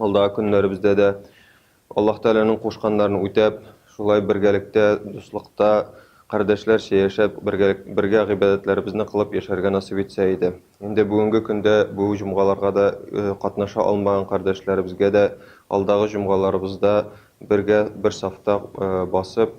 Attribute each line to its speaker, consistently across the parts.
Speaker 1: Алдагы көннәребездә дә Аллаһ Тәгаләнең кушканнарын үтәп, шулай бергәлектә, дуслыкта, кардәшләрчә яшәп, бергә, бергә гыйбадәтләребезне кылып яшәргә насыйп итсә иде. Инде бүгенге көндә бу җомгаларга да э, катнаша алмаган кардәшләребезгә дә алдагы җомгаларыбызда бергә бер сафта э, басып,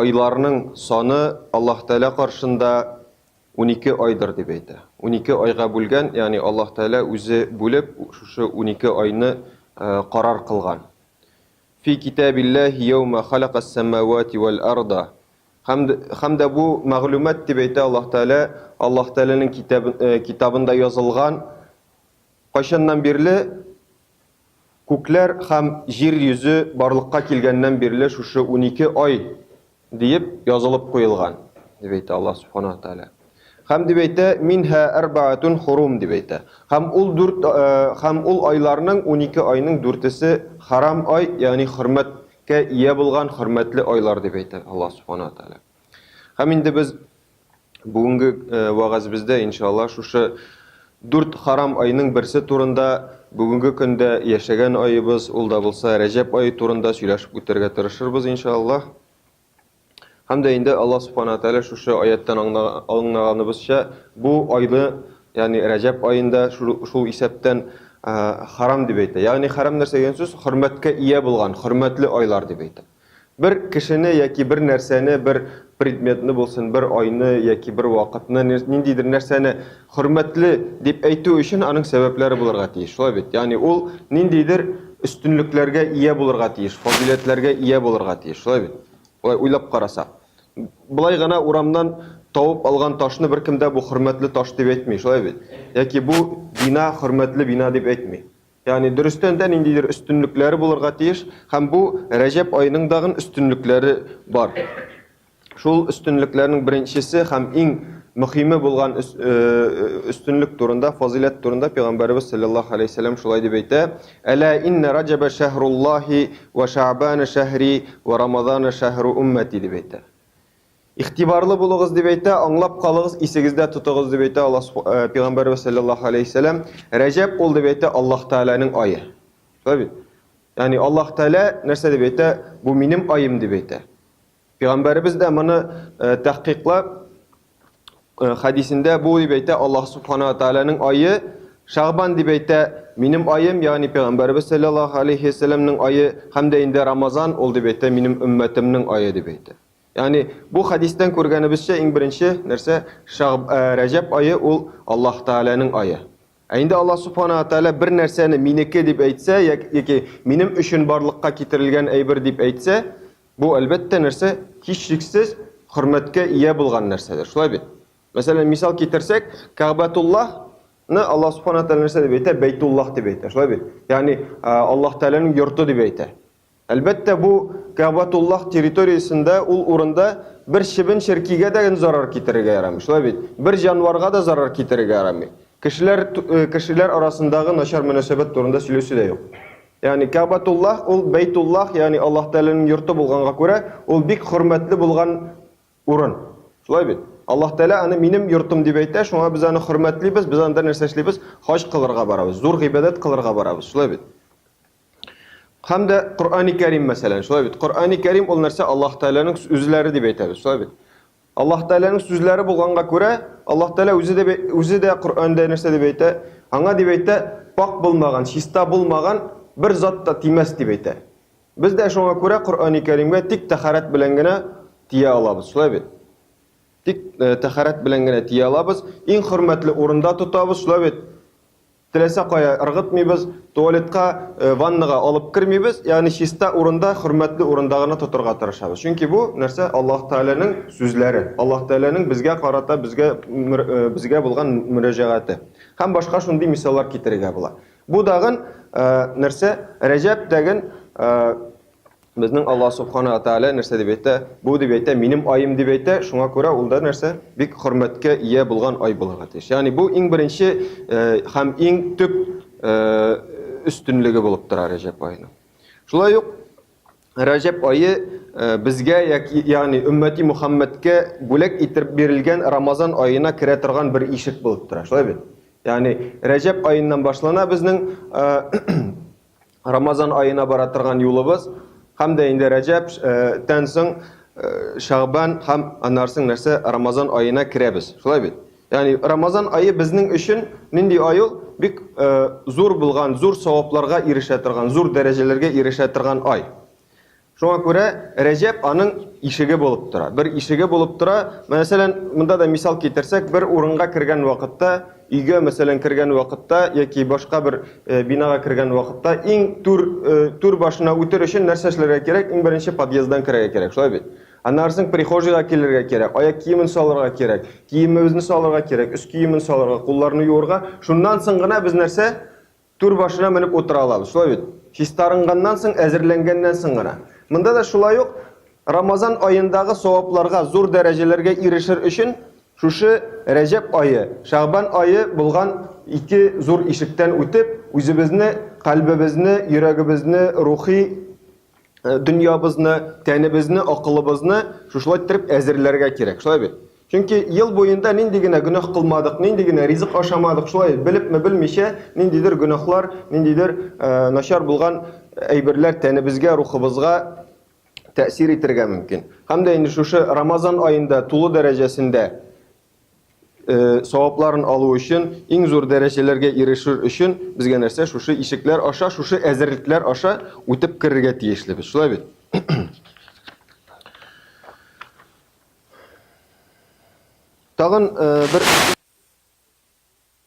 Speaker 1: Айларның саны Аллаһ Тәгалә каршында унике айдыр дип әйтә. Унике айга бүлгән, ягъни Аллаһ Тәгалә үзе бүлеп, шушы унике айны карар кылган. Фи китабиллаһи йәүмә халакас-сәмавати вәл-арда. Һәм, һәм дә бу мәгълүмат, дип әйтә Аллаһ Тәгалә, Аллаһ Тәгаләнең китабы, китабында язылган, кайчаннан бирле, Күкләр һәм җир йөзе барлыкка килгәннән бирле шушы унике ай диеп язылып куелган, дип әйтә Аллаһ Сүбхәнәһү вә Тәгалә. Һәм дип әйтә, Минһа әрбәгатүн хурум, дип әйтә. Һәм ул дүрт, һәм ул айларның, унике айның дүртесе хәрам ай, ягъни хөрмәткә ия булган хөрмәтле айлар, дип әйтә Аллаһ Сүбхәнәһү вә Тәгалә. Һәм инде без бүгенге э, вәгазебездә, иншалла, шушы дүрт харам айның берсе турында бүгенге көндә яшәгән айыбыз, ул да булса Рәҗәп айы турында сөйләшеп үтәргә тырышырбыз, иншалла. Һәм дә инде Алла Субхана Тәлә шушы аяттан аңлаганыбызча, бу айды, ягъни Рәҗәп айында шул исәптән э, харам дип әйтә. Ягъни харам нәрсә дигән сүз? Хөрмәткә ия булган, хөрмәтле айлар дип әйтә. Бер кешене яки бер нәрсәне, бер предметны булсын, бер айны яки бер вакытны, ниндидер нәрсәне хөрмәтле дип әйтү өчен аның сәбәпләре булырга тиеш, шулай бит? Ягъни ул ниндидер өстенлекләргә ия булырга тиеш, фазыйләтләргә ия булырга тиеш, шулай бит? Болай уйлап карасак. Болай гына урамнан табып алган ташны беркем дә бу хөрмәтле таш дип әйтми, шулай бит? Яки бу бина хөрмәтле бина дип әйтми. Ягъни дөрестән дә ниндидер өстенлекләре булырга тиеш һәм бу Рәҗәб аеның дагын өстенлекләре бар. Шул өстенлекләрнең беренчесе һәм иң мөхиме булган өстенлек турында, фазыйләт турында Пәйгамбәребез салләллаһу алейһи вәсәлләм шулай дип әйтә, Әлә иннә Раҗәбә шәһруллаһи вә Шәәбана шәһри вә Рамазана шәһру уммәти дип әйтә. Игътибарлы булыгыз дип әйтә, аңлап калыгыз, исегездә тотыгыз дип әйтә Аллаһ су, э, пигамбәрбез саллаллаһу алейһи сәлам. Рәҗәб ул дип әйтә Аллаһ Тәгаләнең ае. Шулай бит? Ягъни Аллаһ Тәгалә нәрсә дип әйтә? Бу минем аем дип әйтә. Пигамбәрбез дә моны э, тәхкыйклап э, хәдисендә бу дип әйтә Аллаһ субхана ва тәгаләнең ае Шагбан дип әйтә минем аем, ягъни пигамбәрбез саллаллаһу алейһи сәламнең ае һәм дә инде Рамазан ул дип әйтә минем өммәтемнең ае дип әйтә. Ягъни, бу хәдистән күргәнебезчә, иң беренче нәрсә, Шәгъб, ә, Рәҗәб ае ул Аллаһ Тәгаләнең ае. Ә инде Аллаһ Субханаһу ва Тәгалә бер нәрсәне минеке дип әйтсә, як, яки минем өчен барлыкка китерелгән әйбер дип әйтсә, бу, әлбәттә, нәрсә? Һичшиксез хөрмәткә ия булган нәрсәдер. Шулай бит? Мәсәлән, мисал китерсәк, Кәгъбәтуллаһ ны Аллаһ Субханаһу ва Тәгалә нәрсә дип әйтә? Бәйтуллаһ дип әйтә. Шулай бит? Ягъни, а, Аллаһ Тәгаләнең йорты дип әйтә. Әлбәттә, бу Кәгъбәтуллаһ территориясендә, ул урында бер чебен-черкигә дә зарар китерергә ярамый, шулай бит? Бер җанварга да зарар китерергә ярамый. Кешеләр, кешеләр арасындагы начар мөнәсәбәт турында сөйләүче дә юк. Ягъни Кәгъбәтуллаһ, ул Бәйтуллаһ, ягъни Аллаһ Тәгаләнең йорты булганга күрә, ул бик хөрмәтле булган урын. Шулай бит? Аллаһ Тәгалә аны минем йортым дип әйтә, шуңа без аны хөрмәтлибез, без анда нәрсә эшлибез? Хаҗ кылырга барабыз, зур гыйбадәт кылырга барабыз, шулай бит? Һәм дә Коръәни Кәрим мәсәлән, шулай бит. Коръәни Кәрим ул нәрсә? Аллаһ Тәгаләнең сүзләре дип әйтәбез, шулай бит. Аллаһ Тәгаләнең сүзләре булганга күрә, Аллаһ Тәгалә үзе дә үзе дә Коръәндә нәрсә дип әйтә? Аңа дип әйтә, пак булмаган, чиста булмаган бер зат та тимәс дип әйтә. Без дә шуңа күрә Коръәни Кәримгә тик тәхарәт белән генә тия алабыз, шулай бит. Тик э, тәхарәт белән генә тия алабыз, иң хөрмәтле урында тотабыз, шулай бит. Теләсә кая ыргытмыйбыз, туалетка, ваннага алып кермибез, ягъни чиста урында, хөрмәтле урында гына тотырга тырышабыз. Чөнки бу, нәрсә, Аллаһ Тәгаләнең сүзләре, Аллаһ Тәгаләнең безгә карата безгә безгә булган мөрәҗәгате. Һәм башка шундый мисаллар китерергә була. Бу дагын, нәрсә, Рәҗәб дәген, Безнең Аллаһ Субхана ва Тәгалә нәрсә дип әйтә? Бу дип әйтә, минем аем дип әйтә, шуңа күрә ул да нәрсә? Бик хөрмәткә ия булган ай булырга тиеш. Ягъни бу иң беренче һәм иң төп өстенлеге булып тора Рәҗәб аеның. Шулай ук Рәҗәб ае безгә, ягъни өммәти Мухаммәдкә бүләк итеп бирелгән Рамазан аена керә торган бер ишек булып тора. Шулай бит? Ягъни Рәҗәб аеннан башлана безнең Рамазан аена бара торган юлыбыз һәм дә инде Рәҗәп тән соң Шагбан һәм аннан соң нәрсә Рамазан аена керәбез. Шулай бит? Ягъни Рамазан ае безнең өчен нинди ай ул? Бик зур булган, зур савапларга ирешә торган, зур дәрәҗәләргә ирешә торган ай. Шуңа күрә Рәҗәб аның ишеге булып тора. Бер ишеге булып тора. Мәсәлән, монда да мисал китерсәк, бер урынга кергән вакытта, өйгә, мәсәлән, кергән вакытта яки башка бер бинага кергән вакытта, иң түр, түр башына үтер өчен нәрсә эшләргә кирәк? Иң беренче подъезддан керергә кирәк, шулай бит? Аннары соң прихожийга килергә кирәк, аяк киемен салырга кирәк, киемебезне салырга кирәк, өс киемен салырга, кулларны юырга. Шуннан соң гына без нәрсә? Түр башына менеп утыра алабыз, шулай бит? Чистарынганнан соң, әзерләнгәннән соң гына. Монда да шулай ук, Рамазан аендагы савапларга, зур дәрәҗәләргә ирешер өчен, шушы Рәҗәб ае, Шәгъбан ае булган ике зур ишектән үтеп, үзебезне, кальбебезне, йөрәгебезне рухи Э, дөньябызны, тәнебезне, акылыбызны шушылай иттереп әзерләргә кирәк. Шулай бит? Чөнки ел буенда нинди генә гөнаһ кылмадык, нинди генә ризык ашамадык, шулай белепме белмичә, ниндидер гөнаһлар, ниндидер э, начар булган әйберләр тәнебезгә, рухыбызга тәэсир итергә мөмкин. Һәм дә инде шушы Рамазан аенда тулы дәрәҗәсендә савапларын алу өчен, иң зур дәрәҗәләргә ирешер өчен безгә нәрсә? Шушы ишекләр аша, шушы әзерлекләр аша үтеп керергә тиешлебез. Шулай бит? Тагын бер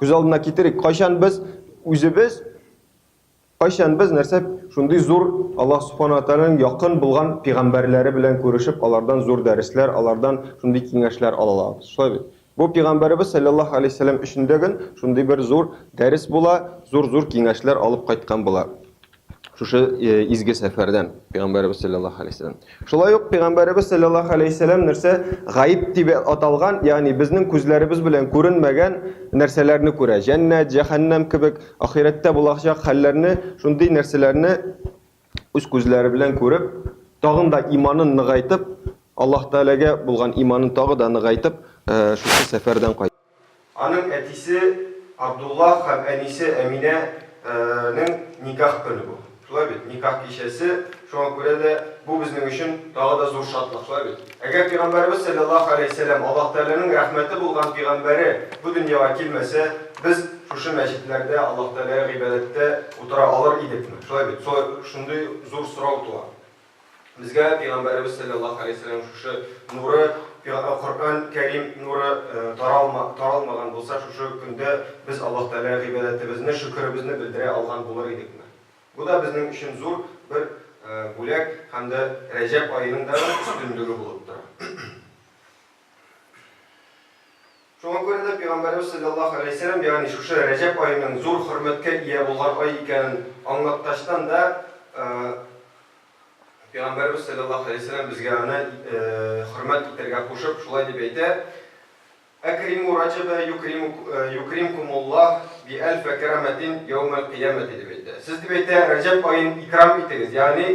Speaker 1: Күз алдына китерик, кайчан без үзебез, кайчан без нәрсә шундый зур Аллаһ Субхана Тәгаләнең якын булган пигамбәрләре белән күрешеп, алардан зур дәресләр, алардан шундый киңәшләр ала алабыз. Шулай бит? Бу пигамбәребез салләллаһу алейһи сәлам өчен дә гөн шундый бер зур дәрес була, зур-зур киңәшләр алып кайткан була. Шушы изге сәфәрдән пәйгамбәребез саллаллаһу алейһи вәсәлләм. Шулай ук пәйгамбәребез саллаллаһу алейһи вәсәлләм нәрсә гаиб дип аталган, ягъни безнең күзләребез белән күренмәгән нәрсәләрне күрә. Җәннәт, җәһәннәм кебек ахирәттә булачак хәлләрне, шундый нәрсәләрне үз күзләре белән күреп, тагын да иманын ныгайтып, Аллаһ Тәгаләгә булган иманын тагы да ныгайтып, шушы сәфәрдән кайтты. Аның әтисе Абдуллах һәм әнисе Әминә нең никах көне бу. Шулай бит? Никах кичәсе. Шуңа күрә дә бу безнең өчен тагы да зур шатлык, шулай бит? Әгәр пигамбәребез сәлләллаһу галәйһи сәләм, Аллаһ Тәгаләнең рәхмәте булган пигамбәре бу дөньяга килмәсә, без шушы мәчетләрдә Аллаһ Тәгаләгә гыйбадәттә утыра алыр идекме? Шулай бит? Шулай шундый зур сорау туа. Безгә Пәйгамбәребез салләллаһу галәйһи ва сәлләм шушы нуры, Коръән Кәрим нуры таралмаган булса, шушы көндә без Аллаһ Тәгаләгә гыйбадәтебезне, шөкеребезне белдерә алган булыр идекме? Бу да безнең өчен зур бер бүләк һәм дә Рәҗәб аеның да бер өстенлеге булып тора. Шуңа күрә дә Пәйгамбәребез салләллаһу галәйһи ва сәлләм, ягъни шушы Рәҗәб аеның зур хөрмәткә ия булган ай икәнен аңлаткачтан да, Пәйгамбәребез салләллаһу галәйһи ва сәлләм безгә аны хөрмәт итәргә кушып, шулай дип әйтә, Әкримү Рәҗәбә юкримкумуллаһ биәлфә кәрәмәтин йәүмәл кыямәти дип әйтә. Сез, дип әйтә, Рәҗәб аен икрам итегез, ягъни,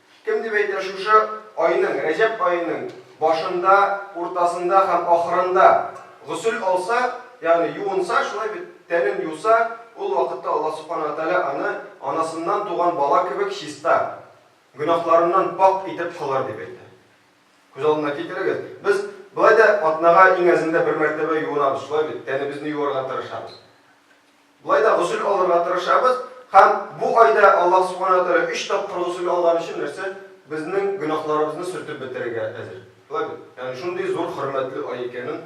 Speaker 1: Кем дип әйтер, шушы айның, Рәҗәб аеның башында, уртасында һәм ахырында госел алса, ягъни юынса, шулай бит, тәнен юса, ул вакытта Аллаһ Субхана ва Тәгалә аны анасыннан туган бала кебек чиста, гөнаһларыннан пакъ итеп кылыр, дип әйтә. Күз алдына китерегез, без болай да атнага иң әзендә бер мәртәбә юынабыз, шулай бит, тәнебезне юарга тырышабыз. Болай да госел алырга тырышабыз һәм бу айда Аллаһ Субхана ва Тәгалә өч тапкыр госел алган өчен нәрсә? Безнең гөнаһларыбызны сөртеп бетерергә әзер. Шулай бит? Ягъни шундый зур хөрмәтле ай икәнен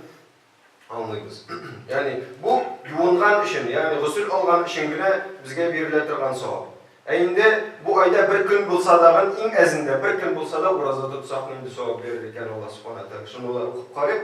Speaker 1: аңлыйбыз. Ягъни бу юынган өчен, ягъни госел алган өчен генә безгә бирелә торган савап. Ә инде бу айда бер көн булса дагын, иң әзендә бер көн булса да ураза тотсак, нинди савап бирер икән Аллаһ Субхана ва Тәгалә? Шуны да укып карыйк.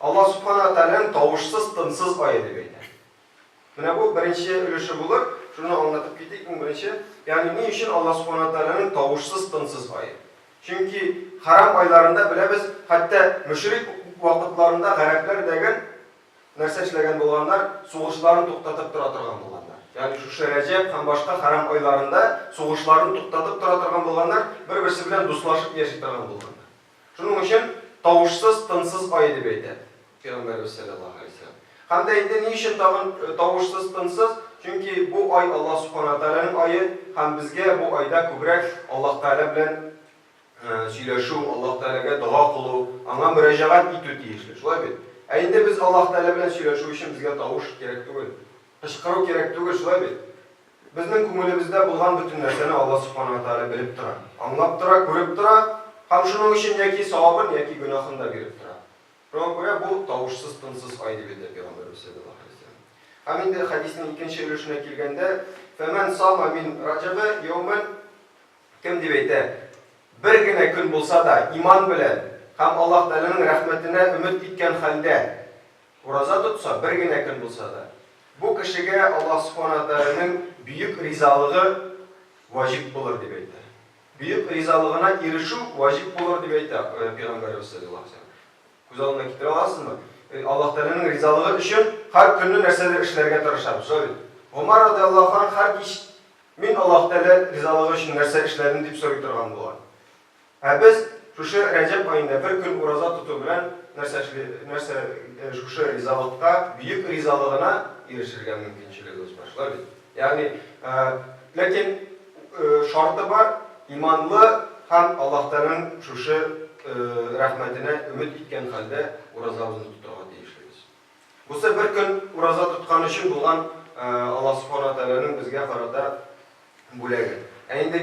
Speaker 1: Аллаһ Сүбхана ва Тәгаләнең тавышсыз, тынсыз ае дип әйтә. Менә бу беренче өлеше булыр. Шуны аңлатып китик, иң беренче. Ягъни ни өчен Аллаһ Сүбхана ва Тәгаләнең тавышсыз, тынсыз ае? Чөнки хәрам айларында, беләбез, хәтта мөшрик вакытларында гарәпләр дәгән нәрсә эшләгән булганнар, сугышларын туктатып тора торган булганнар. Ягъни шушы Рәҗәб һәм башка хәрам айларында сугышларын туктатып тора торган булганнар, бер-берсе белән дуслашып яши торган булганнар. Шуның өчен тавышсыз, тынсыз ай дип әйтә Пәйгамбәребез сәлләллаһу галәйһи ва сәлләм. Һәм дә инде ни өчен тагын тавышсыз, тынсыз? Чөнки бу ай Аллаһ Субхана ва Тәгаләнең ае һәм безгә бу айда күбрәк Аллаһ Тәгалә белән сөйләшү, Аллаһ Тәгаләгә дога кылу, Аңа мөрәҗәгать итү тиешле. Шулай бит? Ә инде без Аллаһ Тәгалә белән сөйләшү өчен безгә тавыш кирәк түгел. Кычкыру кирәк түгел, шулай бит? Безнең күңелебездә булган бөтен нәрсәне Алла Субхана ва Тәгалә белеп тора, аңлап тора, күреп тора һәм шуның өчен яки савабын, яки гөнаһын да биреп тора. Шуңа күрә бу, тавышсыз, тынсыз ай, дип әйтә Пәйгамбәребез салләллаһу галәйһи ва сәлләм. Һәм инде хәдиснең икенче өлешенә килгәндә, Фәмән сама мин Раҗәбә йәүмән, Кем дип әйтә, бер генә көн булса да, иман белән һәм Аллаһ Тәгаләнең рәхмәтенә өмет иткән хәлдә, Ураза тотса, бер генә көн булса да, бу кешегә Аллаһ Субхана ва Тәгаләнең бөек ризалыгы ваҗиб булыр, дип әйтә. Бөек ризалыгына ирешү ваҗиб булыр, дип әйтә Пәйгамбәребез салләллаһу галәйһи ва сәлләм. Күз алдына китерә аласызмы? Аллаһ Тәгаләнең ризалыгы өчен һәр көнне нәрсәдер эшләргә тырышабыз, шулай бит? Гомәр радиаллаһу анһ һәр кич, Мин Аллаһ Тәгалә ризалыгы өчен нәрсә эшләдем? дип сорый торган була. Ә без шушы Рәҗәб аенда бер көн ураза тоту белән нәрсә эшли, нәрсә, шушы ризалыкка, бөек ризалыгына ирешергә мөмкинчелегебез бар, шулай бит? Ягъни, ләкин шарты бар, иманлы һәм Аллаһтаның шушы рәхмәтенә өмет иткән хәлдә уразабызны тотарга тиешлебез. Бусы бер көн ураза тоткан өчен булган Аллаһ Субхана Тәгаләнең безгә карата бүләге. Ә инде.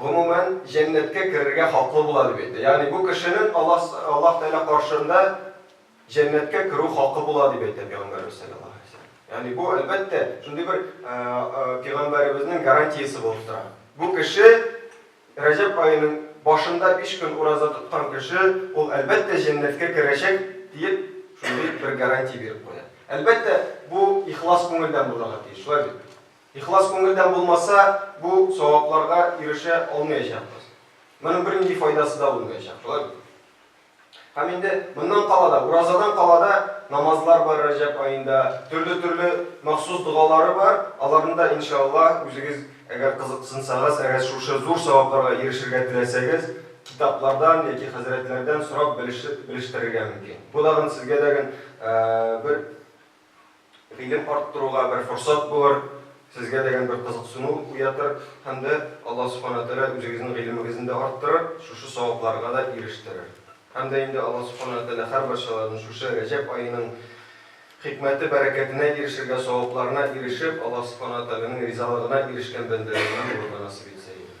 Speaker 1: гомумән, җәннәткә керергә хаклы була, дип әйтә. Ягъни бу кешенең Аллаһ Аллаһ Тәгалә каршында җәннәткә керү хакы була, дип әйтә Пәйгамбәребез салләллаһу галәйһи ва сәлләм. Ягъни бу, әлбәттә, шундый бер Пәйгамбәребезнең гарантиясе булып тора. Бу кеше, Рәҗәб аеның башында биш көн ураза тоткан кеше, ул, әлбәттә, җәннәткә керәчәк, диеп, шундый бер гарантия биреп куя. Әлбәттә, бу ихлас күңелдән булырга тиеш, шулай бит? Ихлас күңелдән булмаса, бу савапларга ирешә алмаячакбыз. Моның бернинди файдасы да булмаячак, шулай бит? Һәм инде моннан кала да, уразадан кала да намазлар бар Рәҗәб аенда, төрле-төрле махсус догалары бар, аларны да, иншаАллаһ, үзегез әгәр кызыксынсагыз, әгәр шушы зур савапларга ирешергә теләсәгез, китаплардан яки хәзрәтләрдән сорап белештерергә мөмкин. Бу дагын сезгә дәген бер Гыйлем арттыруга бер форсат булыр, сезгә дәгән бер кызыксыну уятыр һәм дә Аллаһ Субхана ва Тәгалә үзегезнең гыйлемегезне дә арттырыр, шушы савапларга да ирештерер. Һәм дә инде Аллаһ Субхана ва Тәгалә һәрбарчаларны шушы Рәҗәб аеның хикмәте, бәрәкәтенә ирешергә, савапларына ирешеп, Аллаһ Субхана ва Тәгаләнең ризалыгына ирешкән бәндәләреннән булырга насыйп итсә иде.